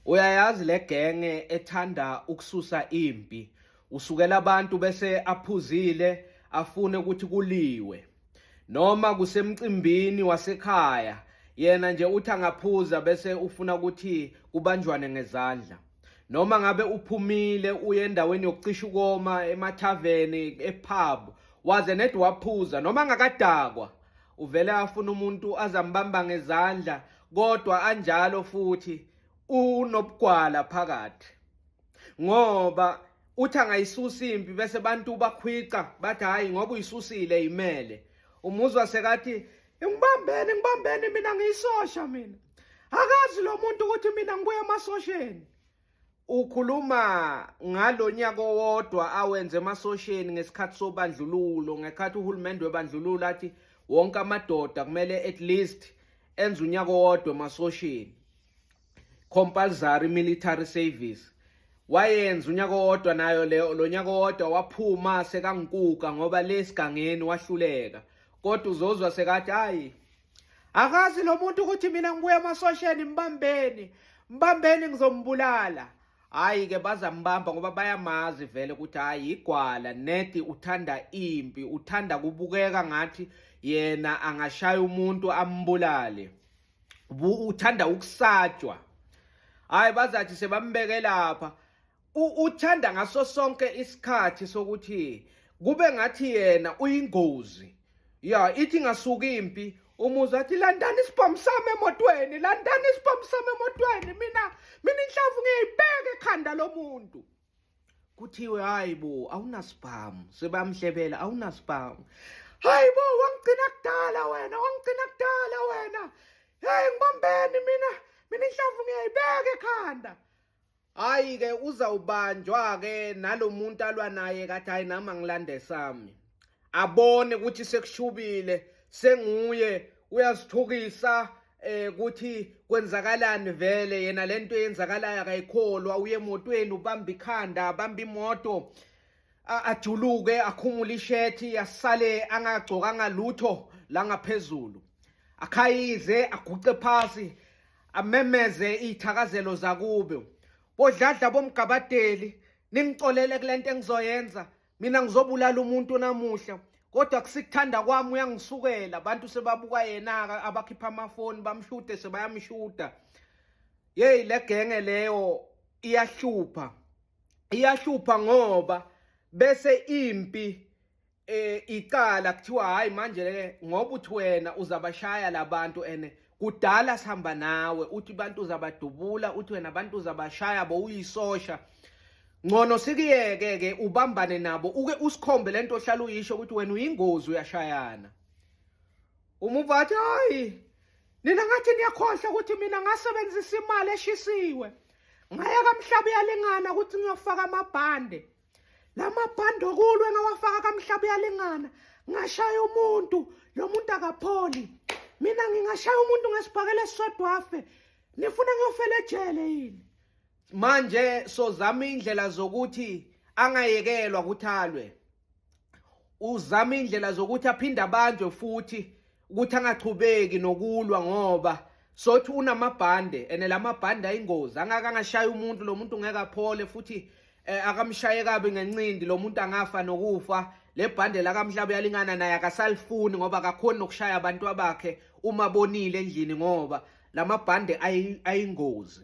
Uyayazi le genge ethanda ukususa impi. Usukela abantu bese aphuzile afune ukuthi kuliwe. Noma kusemcimbini wasekhaya yena nje uthi angaphuza bese ufuna ukuthi kubanjwane ngezandla. Noma ngabe uphumile uye endaweni yokucisha ukoma emathaveni epub waze ned waphuza noma ngakadakwa uvele afuna umuntu azambamba ngezandla kodwa anjalo futhi unobugwala phakathi ngoba uthi angayisusa impi bese abantu bakhwica bathi hayi ngoba uyisusile imele umuzwa sekathi ngibambene ngibambene mina ngiyisosha mina akazi lo muntu ukuthi mina ngibuya emasosheni Ukhuluma ngalonyaka owodwa awenze emasosheni ngesikhathi sobandlululo ngekhathi uhulumende webandlululo athi wonke amadoda kumele at least enze unyaka owodwa emasosheni compulsory military service wayenza unyaka owodwa nayo leyo lo nyaka owodwa waphuma sekangukuka ngoba lesigangeni wahluleka kodwa uzozwa sekathi hayi akazi lo muntu ukuthi mina ngibuya emasosheni mbambeni mbambeni ngizombulala hayi ke bazambamba ngoba bayamazi vele ukuthi hayi igwala nedi uthanda impi uthanda kubukeka ngathi yena angashaya umuntu ambulale uthanda ukusatshwa hayi bazathi sebambeke lapha uthanda ngaso sonke isikhathi sokuthi kube ngathi yena uyingozi ya ithi ngasuki impi umuzi athi landani isibhamu sami emotweni landani isibhamu sami emotweni mina mina inhlavu ngiyayibeka ekhanda lomuntu kuthiwe hayi bo awunasibhamu sebamhlebela awunasibhamu hayi bo wangigcina kudala wena wangigcina kudala wena hey ngibambeni mina mina inhlavu ngiyayibeka ekhanda hayi ke uzawubanjwa ke nalomuntu alwa naye kathi hayi nami angilande sami abone ukuthi sekushubile senguye uyasithukisa eh ukuthi kwenzakalani vele yena lento yenzakalayo akayikholwa uye emotweni ubamba ikhanda abamba imoto ajuluke akhumule ishethi asale angagcokanga lutho la ngaphezulu akhayize aguqe phasi amemeze iy'thakazelo zakubo bodladla bomgabadeli ningicolele kule nto engizoyenza mina ngizobulala umuntu namuhla kodwa kusikuthanda kwami uyangisukela abantu sebabuka yena-ke abakhipha amafoni bamshude sebayamshuda yeyi le genge leyo iyahlupha iyahlupha ngoba bese impi eh icala kuthiwa hayi manje ke ngoba uthi wena uzabashaya labantu ene kudala sihamba nawe uthi abantu uzabadubula uthi wena abantu uzabashaya bo uyisosha ngcono sikuyeke ke ubambane nabo uke usikhombe lento ohlala uyisho ukuthi wena uyingozi uyashayana uma uvathi hayi nina ngathi niyakhohlwa ukuthi mina ngasebenzisa imali eshisiwe ngaya kamhlaba uyalingana ukuthi ngiyofaka amabhande la mabhande okulwe ngawafaka kamhlaba uyalingana ngashaya umuntu lo muntu akapholi mina ngingashaya umuntu ngesibhakela esisodwa afe nifuna ngiyofela ejele yini manje sozama indlela zokuthi angayekelwa ukuthi alwe uzama indlela zokuthi aphinde abanjwe futhi ukuthi angachubeki nokulwa ngoba sothi unamabhande ene lamabhande ayingozi angaka angashaya umuntu lo muntu ngeke aphole futhi eh, akamshaye kabi ngencindi lo muntu angafa nokufa le bhande lakamhlaba uyalingana naye akasalifuni ngoba akakhoni nokushaya abantu abakhe uma bonile endlini ngoba lamabhande ayingozi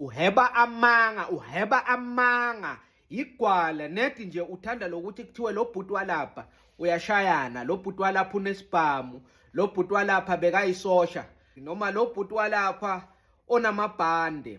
uheba amanga uheba amanga Yigwala nedi nje uthanda lokuthi kuthiwe lo bhuti walapha uyashayana, lo bhuti walapha unesibhamu, lo bhuti walapha bekayisosha noma lo bhuti walapha onamabhande.